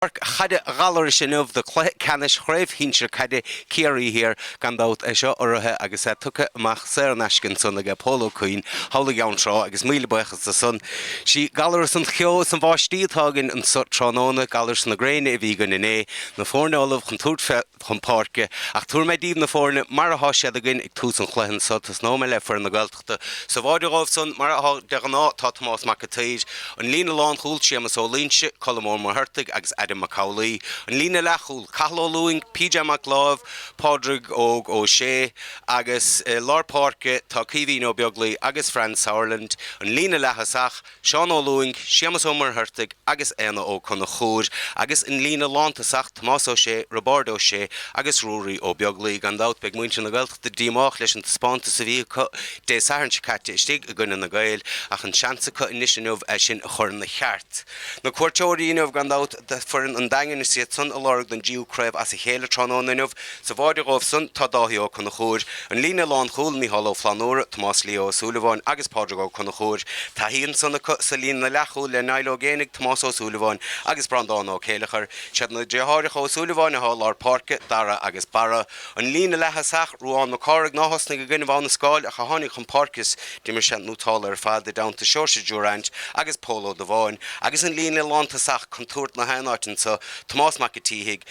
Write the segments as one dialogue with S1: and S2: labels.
S1: Páirc Chaide Ghallarais inniu do cluiche ceannais Chraobh Shinsir Caide Ciarraí Thiar gan dabht é seo urraithe agus é tugtha amach saor in aisce ansan aige Pól Ó Cuinn thall i gCeann Trá agus míle buíochas dó san. Sí Gallaras an cheo is an bháistí atá againn anso tráthnóna, Gallaras na Gréine a bhí againn inné. Na foirne ullamh chun tabhairt chun páirce. Ach tabharfaidh mé díbh na foirne mar atá siad againn ag tús an chluiche anso. Tosnóidh mé le foireann na Sa bháide dhóibh san, mar atá de ghnáth, tá Tomás Mac a tSaoir, an líne lánchúil, Séamus Ó Loingsigh, Colm Ó Muircheartaigh agus Adam Mac Amhlaoibh, an líne leathchúil, Cathal Ó Lúing, PJ Mac Láimh, Pádraig Óg Ó Sé, agus i lár páirce tá Caoimhín Ó Beaglaoi agus Franz Sauerland, an líne leaththosach. Seán Ó Lúing, Séamus Ó Muircheartaigh agus Éanna Ó Conchúir, agus an líne lántosach, Tomás Ó Sé, Roibeárd Ó Sé agus Ruaidhrí Ó Beaglaoi. Gan dabht, beidh muintir na Gaeltachta díomách leis an taispeántas a bhí acu Dé Sathairn seo caite istigh i gcoinne na Gaeil, ach an seans acu anois inniu é sin a chur ina cheart. Na cuairteoirí inniu, gan dabht, foireann an Daingin is iad san ag lorg don dtríú craobh as a chéile tráthnóna inniu. Sa bháide dhóibh san tá Dáithí Ó Conchúir, an líne lánchúil, Micheál Ó Flannúra, Tomás Leo Ó Súilleabháin agus Pádraig Ó Conchúir. Taithí ansan acu sa líne leathchúil le Niall Ó Géibheannaigh, Tomás Ó Súilleabháin agus Breandán Ó Céilleachair. Siad na driotháireacha Ó Súilleabháin atá i lár páirce, Dara agus Barra. An líne leaththosach Ruán Mac Cárthaigh ná thosnaigh i gcoinnibh Abha na Scáil ach a tháinig chun páirce is d'imir sé nótálta ar fad i dteannta Seoirse Durant agus Pól Ó Dubháin agus an líne lán-tosach contúirt i ngach aon áit anso, Tomás Mac a tSíthigh,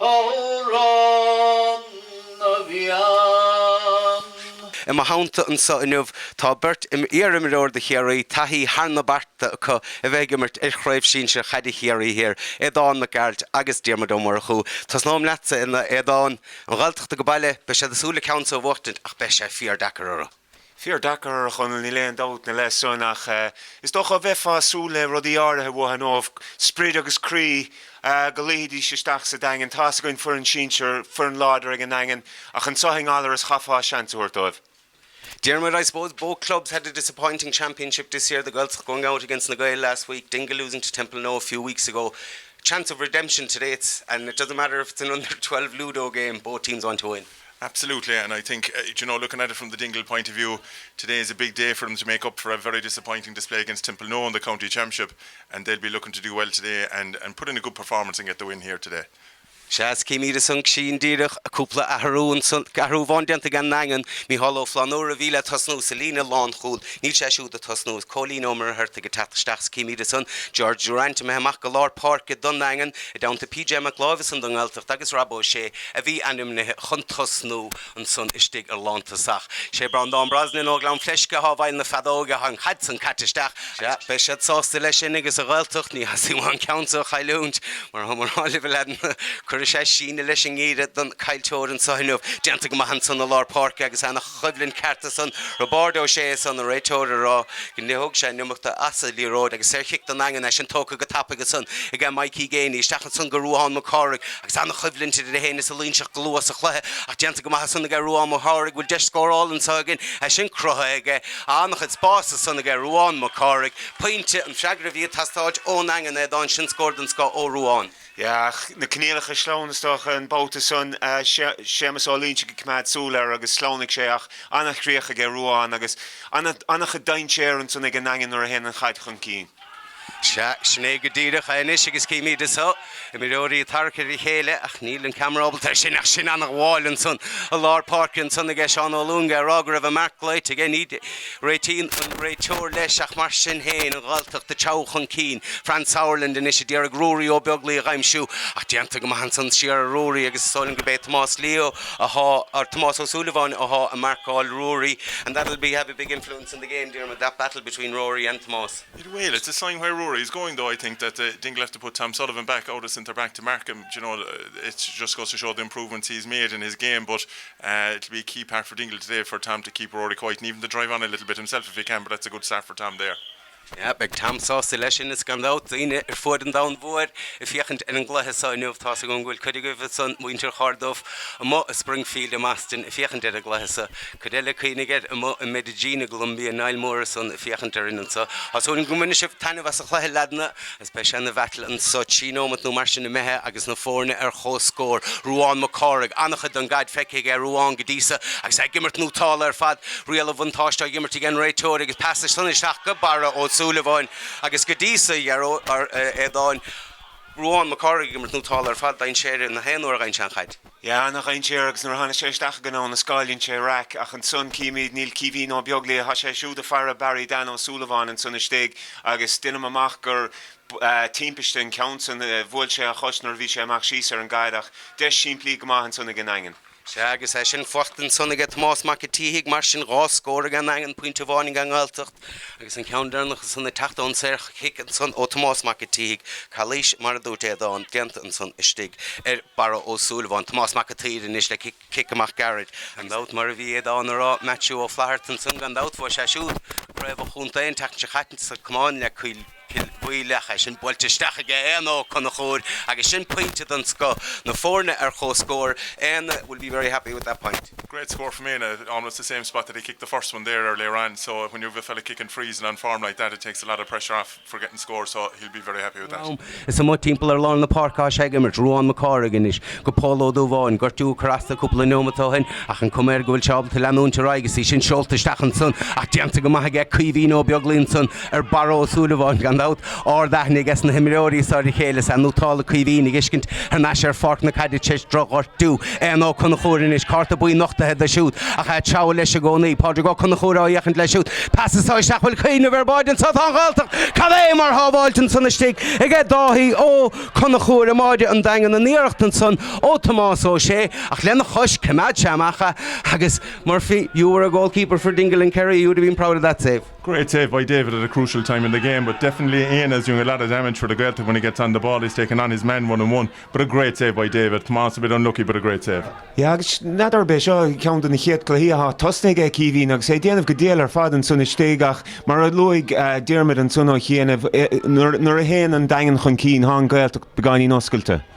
S1: amhrán na bhfiann. I mo theannta anseo inniu tá beirt iar-imreoir do Chiarraí, taithí thar na bearta acu a bheith ag imirt ar Chraobh Sinsir Caide Chiarraí Thiar, Aodán Mac Gearailt agus Diarmuid Ó Murchú. Tosnóim leatsa, a Aodáin. An Ghaeltachta ag baile, beidh siad ag súil le ceann so a bhuachtaint ach beidh sé fíor-deacair orthu. Fíor-deacair, a Chonaill, níl aon dabht na le san ach is dócha bheithfeá ag súil le rudaí áirithe uatha nó sprid agus croí go luífidís isteach sa Daingean. Tá's againn foireann sinsear, foireann láidir ag an nDaingean ach anso i nGallarus chaithfeá seans a thabhairt dóibh. Diarmuid, I suppose both clubs had a disappointing championship this year, the Gaeltacht going out against Na Gaeil last week, Dingle losing to Templenoe a few weeks ago. Chance of redemption today, it's and it doesn't matter if it's an under twelve Ludo game, both teams want to win. Absolutely and I think d'you know looking at it from the Dingle point of view today is a big day for them to make up for a very disappointing display against Templenoe in the county championship and they'll be looking to do well today and and put in a good performance and get the win here today. Sea is címid ansan, sin díreach, cúpla athrú ansan, athrú amháin déanta ag an nDaingean, Micheál Ó Flannúra a bhí le tosnú sa líne lánchúil, níl sé siúd ag tosnú, is Cóilín Ó Muircheartaigh ag teacht isteach is címid ansan George Durrant imithe amach go lár páirce don nDaingean, i dteannta PJ Mac Láimh ansan don nGaeltacht agus Rob Ó Sé a bhí ainmnithe chun tosnú ansan istigh ar lántosach. Sé Breandán Brosnan ó Ghleann Fleisce athá i bhfeighil na feadóige an chaid san caite isteach agus beidh siad sásta leis sin agus an Ghaeltacht, ní theastaíonn uathu an ceann so a chailliúint, mar thá mé a rá libh a leaideanna, cuirfidh sé síneadh leis an ngeimhreadh don gcaillteoir anso inniu. Déanta go maith ansan i lár páirce agus ana. choimhlint ceart ansan. Roibeárd Ó Sé ansan an réiteoir a rá gur thóg sé an iomarca as a' liathróid agus saor chic don Daingean, é sin tógtha go tapaidh ansan ag a' Mikey Geaney. Isteach ansan go Ruadhán Mac Cárthaigh agus an-choimhlint idir é fhéin is a' Loingseach go luath sa chluiche ach déanta go maith ansan ag a' Ruadhán Mac Chárthaigh, bhfuil deis scórála anso againn, é sin cruthaithe aige, an-chuid spáis ansan ag a' Ruadhán Mac Cárthaigh, pointe, an freagra a bhí ag teastáilt ón Daingean, Aodhán sin scór den scoth ó Ruadhán. Ach na coinníollacha sleamhna is dócha an babhta san. Séamus Ó Loingsigh ag coimeád súil air agus shleamhnaigh sé ach an-chríoch aige Ruadhán agus an-chuid dainséir ansan ag an nDaingean nuair a théann an chaid chun cinn. Sea, sin é go díreach é anois agus címíd anso, imreoirí ag tarrac ar a chéile ach níl an ceamara ábalta ar sin ach sin an-mhoill ansan i lár páirce ansan aige Seán Ó Lúing a rá go raibh an marc glaoite aige. Réitíonn an réiteoir leis, ach mar sin féin, an Ghaeltacht ag treabhadh chun cinn. Franz Sauerland anois a d'iarraidh Ruairí Ó Beaglaoich a aimsiú, ach déanta go maith ansan thiar ar Ruairí agus is dóigh liom gurb é Tomás Leo athá, or Tomás Ó Súilleabháin athá ag marcáil Ruairí and that will be have a big influence in the game, Diarmuid, that battle between Rory and Tomás. It will, it's a sign where Ruairí is going though I think that uh Dingle have to put Tom Sullivan back out of centre back to mark him, d'you know, uh it just goes to show the improvements he has made in his game but It'll be a key part for Dingle today for Tom to keep Rory quiet and even to drive on a little bit himself if he can but that's a good start for Tom there. Yeah, beidh Tom sásta leis sin. Is gan dabht, daoine ar fuaid an domhain mhóir ag féachaint ar an gcluiche seo inniu. Tá's agam go bhfuil cuid agaibh ansan muintir Chorduibh amuigh i Springfield i mBoston ag féachaint ar an gcluiche seo, cuid eile cuimhnigh air amuigh i Medellín i gColumbia, Niall Mór ansan ag féachaint orainn anso. Tá súil agam go mbainfidh sibh taitneamh as an chluiche, leaideanna. Beidh sé ina bhattle anso trí nóimeat nó mar sin imithe agus na foirne ar chomhscór. Ruán Mac Cárthaigh, an-chuid don gcaid feicthe aige Ruán go dtí so agus é ag imirt nótálta ar fad. Riail an bhuntáiste á dh'imirt ag an réiteoir agus pas deas ansan isteach go Barra Ó Súilleabháin agus go dtí so déarfá Aodhán. Ruán Mac Cárthaigh ag imirt nótálta ar fad, dainséar, gach aon uair a gheibheann sé an chaid. Sea ana-dhainséar agus nuair a tháinig sé isteach i ngnó na scaoileann sé raic ach ansan címíd níl Caoimhín Ó Beaglaoich thá sé siúd ag faire Barry Dan Ó Súilleabháin ansan istigh agus deinim amach gur timpiste an ceann san bhuail sé a chois nuair a bhí sé ag imeacht síos ar an gcaid ach deis simplí go maith ansan ag an nDaingean. Sea agus é sin fachta ansan aige Tomás Mac a' tSíthigh mar sin dhá scór ag an nDaingean, pointe amháin ag an nGaeltacht. Agus an ceann deireanach san ag teacht ón saor chic ansan ó Tomás Mac a' tSíthigh, calaois mar a dúirt Aodhán, déanta ansan istigh ar Barra Ó Súilleabháin. Tomás Mac a' tSaoir anois le cic, cic amach geairid. Gan dabht, mar a bhí Aodhán a' rá, Maitiú Ó Flaithearta ansan, gan dabht, bhuaigh sé siúd craobh an chontae an tseachtain seo chaite sa camáin le Cill. Cill Mhaoileach, é sin buailte isteach aige Éanna Ó Conchúir agus sin pointe den scoth, na foirne ar chomhscór, Éanna will be very happy with that point. Great score from Éanna, almost the same spot that he kicked the first one there earlier on, so when you have a fella kicking frees and on form like that it takes a lot of pressure off for getting scores so he'll be very happy with that. Am is amuigh timpeall ar lár na páirce atá sé ag imirt, Ruán Mac Cárthaigh anois go Pól Ó Dubháin, gortú a cuir as do cúpla neomat ó shin ach an cuma air go bhfuil sé ábalta leanúint ar aghaidh is í sin seolta isteach ansan ach déanta go maith aige Caoimhín Ó Beaglaoi ansan ar Barra Ó Súilleabháin gan dabht. Ard aithne aige sna himreoirí seo ar a chéile is ea nó tá le Caoimhín a fheiscint thar n-ais ar pháirc na caide tréis droch-ghortú. Éanna Ó Conchúir anois, cárta buí nochtaithe do siúd ach a' treabhadh leis i gcónaí. Pádraig Ó Conchúir á fhéachaint leis siúd. Pas isteach, an bhfuil cuimhneamh ar bháide anseo. Tá an Ghaeltacht cad é mar shábháilt ansan istigh aige Dáithí Ó Conchúir i mbáide an Daingin an iarracht ansan ó Thomás Ó Sé ach lena chois choimeád sé amach é agus Murphy, you were a goalkeeper for Dingle and Kerry, you would have been proud of that save. Great save by David at a crucial time in the game but definitely Éanna is doing a lot of damage for the Gaeltacht when he gets on the ball, he's taking on his man one on one but a great save by David, Tomás a bit unlucky but a great save. Yeah agus n'fheadar an é seo ceann de na chéad cluichí athá tosnaithe ag Caoimhín agus é ag déanamh go diail ar fad ansan istigh ach mar a luaigh Diarmuid ansan ó chianaibh nuair a théann an Daingean chun cinn tá an Gaeltacht beagáinín oscailte.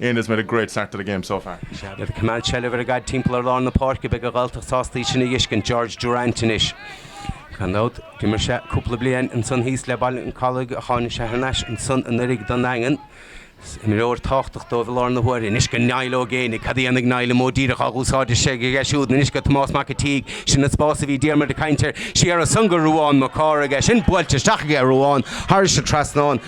S1: Éanna has made a great start to the game so far. Is iad ag coimeád seilbh ar an gcaid timpeall ar lár na páirce, beidh an Ghaeltacht sásta í sin a dheiscint, George Durrant anois. Gan dabht, d'imir sé cúpla bliain ansan thíos le Baile an Chollaigh ach tháinig sé thar n-ais ansan anuiridh don nDaingean. Is imreoir tábhachtach dóibh i láthair na huaire. Anois go Niall Ó Géinigh. Cad a dhéanfaidh Niall? An modh díreach á dhúsáid is ea aige siúd? Anois go Tomás Mac a' tSíthigh. Sin an spás a bhí Diarmuid ag caint air. Siar ansan go Ruán Mac Cárthaigh. É sin buailte isteach aige Ruán. Thairis sa trasnán.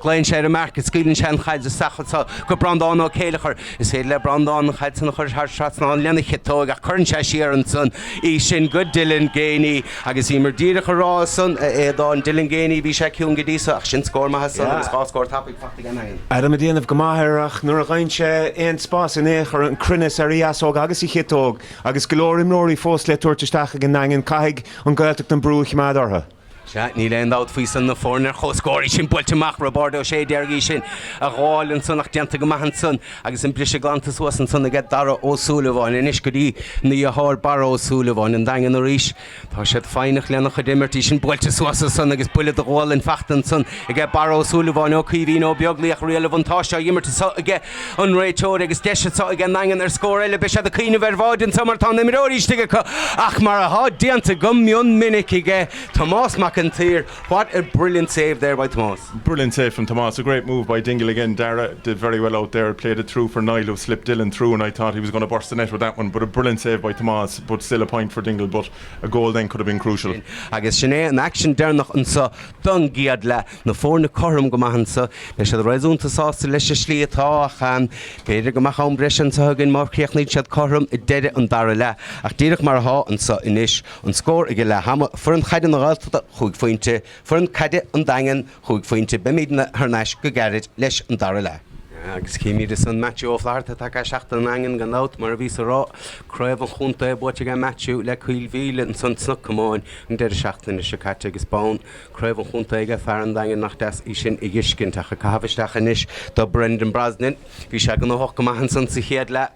S1: Glaonn sé ar an marc is scaoileann sé an chaid isteach anso go Breandán Ó Céilleachair. Is féidir le Breandán an chaid san a chur thar trasnán lena chiotóig ach cuireann sé siar ansan í sin go Dylan Geaney agus bhíomar díreach a rá san, a Aodáin, Dylan Geaney, bhí sé ciúin go dtí so ach sin scór maith san agus dhá scór tapaidh faighte ag an Daingean. Adam ag déanamh go maith air ach nuair a gheibheann sé aon spás in aon chor an cruinneas ar a dheasóg agus a chiotóg agus go leor imreoirí fós le tabhairt isteach ag an nDaingean, caithfidh an Ghaeltacht an brú a choimeád orthu. Sea, níl aon dabht faoi san, na foirne ar chomhscór, í sin buailte amach, Roibeárd Ó Sé a d'iarraidh é sin a ghabháil ansan ach déanta go maith ansan agus an briseadh glanta suas ansan aige Dara Ó Súilleabháin. Anois go dtína dheartháir Barra Ó Súilleabháin, An Daingean arís. Tá siad foighneach lena chuid imirt, í sin buailte suas ansan agus buille do ghualainn fachta ansan aige Barra Ó Súilleabháin, ó Caoimhín Ó Beaglaoi ach riail an bhuntáiste á imirt anso aige. an réiteoir agus deis atá ag an nDaingean ar scór eile. Beidh siad ag cuimhneamh ar bháide anseo mar tá na himreoirí istigh acu ach mar atá déanta go mion minic aige Tomás Mac an tSaoir, what a brilliant save there by Tomás. Brilliant save from Tomás, a great move by Dingle again, Darragh did very well out there, played it through for Niall who slipped Dylan through and I thought he was going to burst the net with that one but a brilliant save by Tomás but still a point for Dingle but a goal then could have been crucial. Agus sin é an action deireanach anseo don gCéad Leath. na foirne cothrom go maith anseo. Beidh siad réasúnta sásta leis an slí atá ach b'fhéidir go mbeadh am breise anseo againn má chríochnaíonn siad cothrom ag deireadh an dara leath. Ach díreach mar atá anseo anois, an scór ag leath ama, foireann caide na Gaeltachta cúig phointe, foireann caide an Daingin cúig phointe, beimid thar n-ais go gairid leis an dara leath. Agus címid ansan Matthew Ó Flatharta tacaí seachtair an Daingin gan dabht, mar a bhíos ag rá, craobh an chontae buaite aige Matthew le Cill Mhíle ansan sna Comáin an deireadh seachtaine seo caite agus bonn Craobh an Chontae aige, fear an Daingin, nach deas é sin a thuiscint ach an caitheamh isteach anois do Brendan Brosnan. Bhí sé gnóthach go maith ansan sa chéad leath.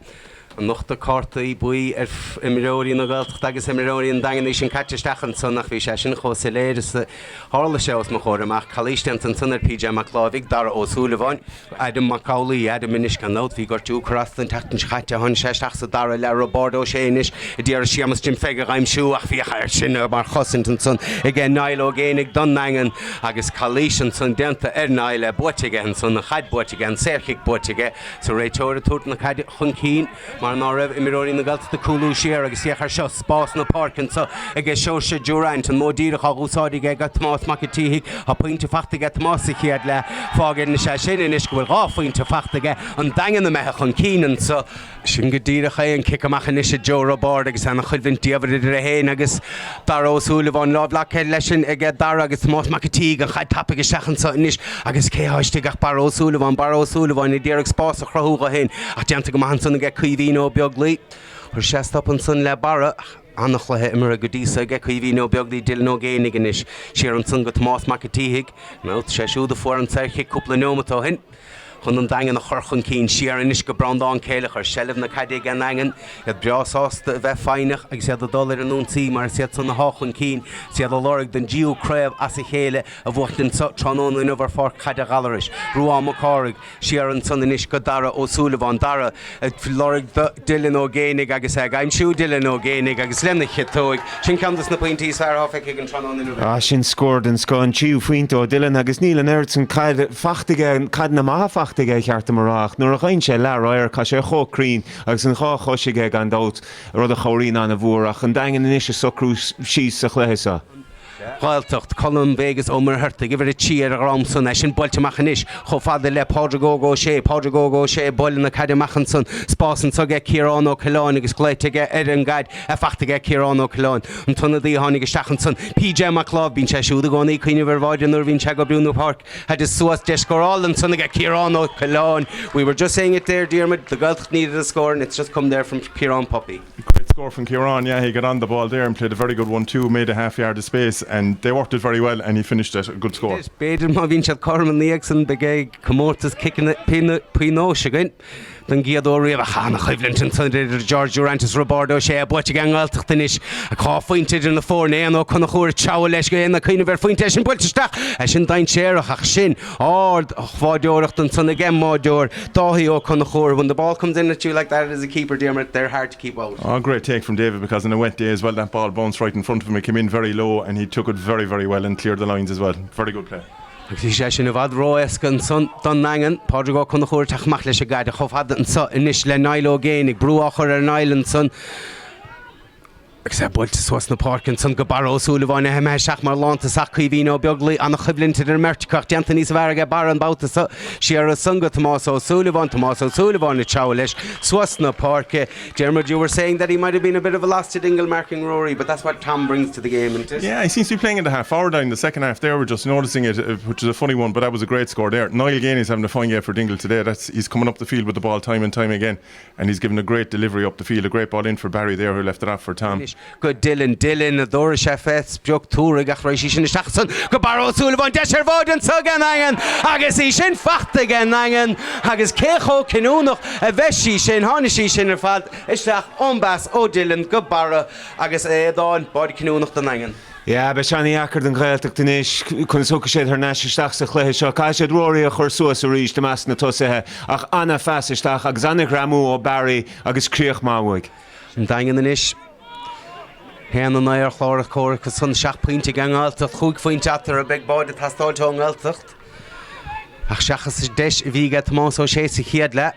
S1: Nochtadh cártaí buí ar imreoirí na Gaeltachta agus imreoirí an Daingin é sin caite isteach ansan ach bhí sé sin chomh soiléir is a tharla sé os mo chomhair amach. Calaois déanta ansan ar PJ Mac Láimhígh, Dara Ó Súilleabháin. Adam Mac Amhlaigh, Adam anois gan dabht, bhí gortú ag cur as dó an tseachtain seo chaite, tháinig sé isteach sa dara leath, Roibeárd Ó Sé anois a d'iarraidh Séamus Jim Pheig a dh'aimsiú ach briseadh air sin mar chosaint ansan aige Niall Ó Géin don nDaingean agus calaois ansan déanta ar Niall, é buaite aige ansan, an chaid buaite aige, an saor chic buaite aige, is an réiteoir ag tabhairt na caide chun cinn. Mar ná raibh imreoirí na Gaeltachta ag cúlú siar agus féach air seo, spás na páirce anso aige Seoirse Durant, an modh díreach á dh'úsáid aige aige Tomás Mac a' tSíthigh, tá pointe faighte aige Tomás sa chéad leath, fágann sé sin anois go bhfuil dhá phointe faighte aige, an Daingean imithe chun cinn anso. Sin go díreach é an cic amach anois a Joe Roibeárd agus ana-choimhlint diamhair idir é féin agus. Dara Ó Súilleabháin, Lámh leagtha leis sin aige Dara agus Tomás Mac a tSíthigh, An chaid tapaidh isteach anseo anois agus cé atá istigh ach Barra Ó Súilleabháin. Barra Ó Súilleabháin ag iarraidh spás a chruthú dho fhéin ach déanta go maith ansan aige Caoimhín Ó Beaglaoi. Chuir sé stop ansan le Barra ach ana-chluiche imeartha go dtí so aige Caoimhín Ó Beaglaoi Dylan Ó Géinigh anois. Siar ansan go Tomás Mac a tSíthigh. Nós, Sé siúd a fuair an tsaor chic cúpla neomat ó shin. chun an Daingean a chur chun cinn. Siar anois go Breandán Céileach fós seilbh na caide ag an nDaingean, iad breá sásta a bheith foighneach agus iad ag dul ar an ionsaí mar is iad san athá chun cinn is iad ag lorg an dtríú craobh as a chéile a bhuachaint anseo tráthnóna inniu ar pháirc Chaide Ghallarais. Ruán Mac Cárthaigh, siar ansan anois go Dara Ó Súilleabháin. Dara. ag lorg Dylan Ó Géinigh agus é ag aimsiú Dylan Ó Géinigh agus lena chiotóig, sin ceann dos na pointí is fearr athá feicthe againn tráthnóna inniu aige. Ah sin scór den scoth, an tríú phointe ó Dylan agus níl an oiread san caid faighte aige, caideanna maithe faighte aige cheart dom a rá, ach nuair a gheibheann sé leath radharc thá sé chomh cruinn agus an dhá chois aige gan dabht, rud a chabhraíonn ana-mhór ach an Daingean anois ag socrú síos sa chluiche seo. Ghaeltacht, Colm Vegas Ó Muircheartaigh, uimhir 3 ar a dhrom san, é sin buailte amach anois chomh fada le Pádraig Óg Ó Sé, Pádraig Óg Ó Sé ag bualadh na caide amach ansan, spás anso aige Ciarán Ó Coileáin agus glaoite aige ar an gcaid í fachta aige Ciarán Ó Coileáin, an t-ionadaí a tháinig isteach ansan, PJ Mac Láimh, bíonn sé siúd i gcónaí ag cuimhneamh ar bháide nuair a bhíonn sé ag breithniú an pháirc, tá deis scórála ansan aige Ciarán Ó Coileáin, we were just saying it there Diarmuid, the Gaeltacht needed a score and it's just come there from Ciarán Puppy. Great score from Ciarán, yeah he got on the ball there and played a very good one too, made a half yard of space and they worked it very well and he finished it, a good score. B'fhéidir má bhíonn siad cothrom ina dhiaidh san beidh comórtas ciceanna pionóis againn don gcéad uair riamh ach an choimhlint ansan idir George Durrant is Roibeárd Ó Sé buaite ag an nGaeltacht anois ag dhá phointe idir na foirne, Éanna Ó Conchúir ag treabhadh leis agus é ag cuimhneamh ar phointe ansan buailte isteach leis an-dainséarach ach sin Ard-bháideoireacht ansan ag an mbáideoir, Dáithí Ó Conchúir, When the ball comes in at you like that as a keeper, Diarmuid, they're hard to keep out. Aww great take from David because on a wet day as well that ball bounced right in front of him, it came in very low and he took it very very well and cleared the lines as well. Very good play. Agus bhí sé sin i bhfad ró-éasca ansan don nDaingean, Pádraig Ó Conchúir ag teacht amach leis an gcaid chomh fada ansan anois le Niall Ó Géinigh, brú á chur ar Niall ansan, Agus é buailte suas le páirc ansan go Barra Ó Súilleabháin, ahem, ahem, seach mar lánta sac Caoimhín Ó Beaglaoi, an-choimhlint idir an mbeirt acu ach déanta níos fearr aige Barra an babhta so. Siar ansan go Tomás Ó Súilleabháin, Tomás Ó Súilleabháin ag treabhadh leis suas na páirce. Diarmuid, you were saying that he might have been a bit of a loss to Dingle marking Rory, but that's what Tom brings to the game, isn't it? Yeah, he seems to be playing in the half forward line in the second half there, we're just noticing it, uh, which is a funny one, but that was a great score there. Niall Geaney is having a fine game for Dingle today, that's, he's coming up the field with the ball time and time again. and he's given a great delivery up the field, a great ball in for Barry there who left it off for Tom. Anois go Dylan, Dylan, an dtabharfaidh sé fén sprioc? Tabharfaidh ach raghaidh sí sin isteach ansan go Barra Ó Súilleabháin, deis ar bháide anso ag an nDaingean agus í sin fachta ag an nDaingean agus cé chomh cinniúnach a bheidh sí sin tháinig sí sin ar fad isteach ón bpas ó Dylan go Barra agus é a d'fháil báide cinniúnach don Daingean. Yeah, beidh sé an-dheacair don Ghaeltacht anois, conas a thiocfaidh siad thar n-ais isteach sa chluiche seo. Caithfidh siad Rory a chur suas arís i measc na tosaithe ach an-phas isteach agus an-ghreamú ó Barry agus críoch maith uaidh. An Daingean anois a haon a naoi ar chlár na scór acu san, seacht bpointe ag an nGaeltacht, chúig phointe eatarthu agus beidh báide ag teastáil ón nGaeltacht. Ach seachas deis a bhí aige Tomás Ó Sé sa chéad leath,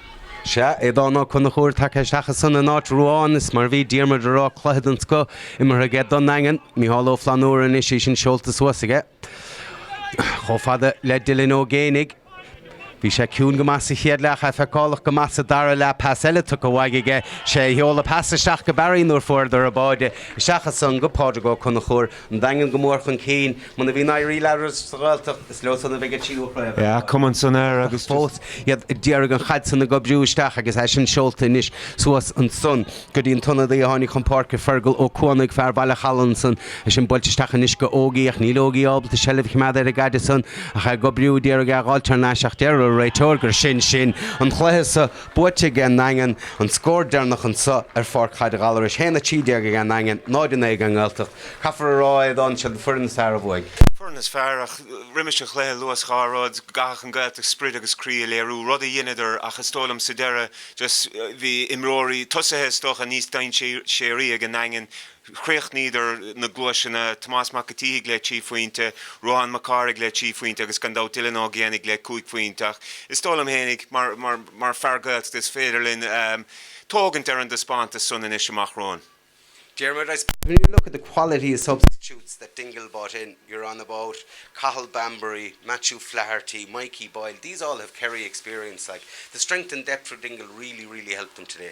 S1: Sea, Aodán Ó Conchúir tagtha isteach ansan in áit Ruáin, is mar a bhí Diarmuid ag rá, cluiche den scoth imeartha aige don nDaingean. Micheál Ó Flannúra anois, é sin seolta suas aige chomh fada le Dylan Ó Géinigh. Bhí sé ciúin go maith sa chéad leath ach é feiceálach go maith sa dara leath. Pas eile tugtha uaidh aige. Sé a sheol an pas isteach go Barry nuair a fuaireadar an báide. Isteach ansan go Pádraig Ó Conchúir. an Daingean go mór chun cinn. Muna bhíonn ag éirí leis an nGaeltacht, is leosan a bheidh an tríú chraobh eile. Bheadh cumann san aer agus fós iad ag iarraidh an chaid san ag oibriú isteach agus é sin seolta anois suas ansan go dtí an t-ionadaí a tháinig chun páirce, Fergal Ó Cuanaigh, fear Bhaile an Chalaidh ansan. É sin buailte isteach anois go Ógie ach níl Ógie ábalta seilbh a choimeád ar an gcaid ansan ach é ag oibriú, ag iarraidh é a dh'fháilt thar n-ais ach deir an réiteoir gur sin sin an cluiche sa Buaite ag an nDaingean, an scór deireanach anseo ar Pháirc Chaide Ghallarais, 1, 13 ag an nDaingean, 0, 9 ag an nGaeltacht. Caithfear a rá is dóigh liom sí an fhoireann is fearr a bhuaigh. Foireann is fearr ach roimis an chluiche luas dhá rud, go gcaithfeadh an Gaeltacht sprid agus croí a léiriú, rud a dheineadar ach is dóigh liom sa deireadh just bhí imreoirí, tosaithe is dócha, níos dainséaraí ag an nDaingean. chríochnaíodar na gluaiseachtaí, Tomás Mac a tSíthigh le trí phointe, Ruadhán Mac Cárthaigh le trí phointe agus gan dabht Dylan Ó Géibheannaigh le cúig phointe ach is dóigh liom fhéinig mar fear Gaeltachta is féidir linn tógaint ar an dtaispeántas san anois amach romhainn. Diarmuid, I suppose when you look at the quality of substitutes that Dingle brought in, you're on about Cathal Bambury, Matthew Flaherty, Mikey Boyle, these all have Kerry experience like. The strength and depth for Dingle really, really helped them today.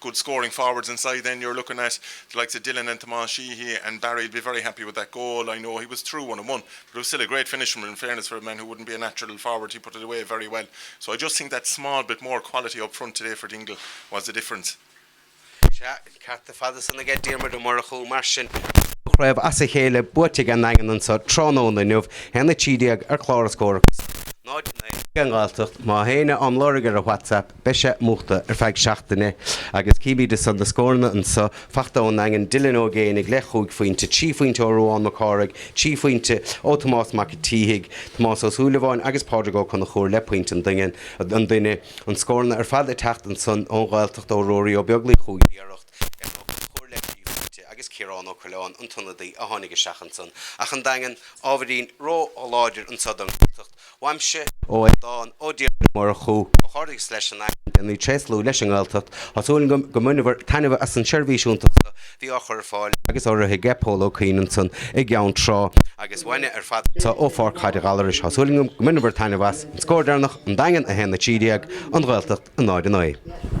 S1: good scoring forwards inside then you're looking at the likes of Dylan and Tomás Sheehy and Barry will be very happy with that goal I know he was through one and one but it was still a great finish from him in fairness for a man who wouldn't be a natural forward he put it away very well so I just think that small bit more quality up front today for Dingle was the difference Sea, cearta fada san aige Diarmuid Ó Murchú mar sin. Dhá chraobh as a chéile buaite ag an nDaingean anseo tráthnóna inniu, haon a trí déag ar chlár an scór agus 0 in aghaidh an Ghaeltacht. Má théine am lorg ar a WhatsApp. Beidh sé múchta ar feadh seachtaine agus címid ansan na scóranna anso faighte ón nDaingean, Dylan Ó Géibheannaigh le cúig phointe, trí phointe ó Ruadhán Mac Cárthaigh, trí phointe ó Tomás Mac a tSíthigh, Tomás Ó Súilleabháin agus Pádraig Ó Conchúir le pointe an duine, an duine an scóranna ar fad ag teacht ansan ón nGaeltacht ó Ruairí Ó Beaglaoich chúig iarracht, Evan Ó Conchúir le trí phointe agus Ciarán Ó Coileáin an t-ionadaí a tháinig isteach ansan ach an Daingean ábhairín ró-láidir anso don Ghaeltacht Uaimse ó é dán ó Diarmuid Ó Murchú ó Chorcaigh leis an aidhm go ndéanfaí tréaslú leis an nGaeltacht. Tá súil agam go mbaineabhair taitneamh as an seirbhís iontach seo bhí á chur ar fáil agus á rith aige Pól Ó Cuinn ansan i gCeann Trá agus uainne ar fad anseo ó Pháirc Chaide Ghallarais. Tá súil agam go mbaineabhair taitneamh as. An scór deireanach, An Daingean 1 13, An Ghaeltacht 0 9.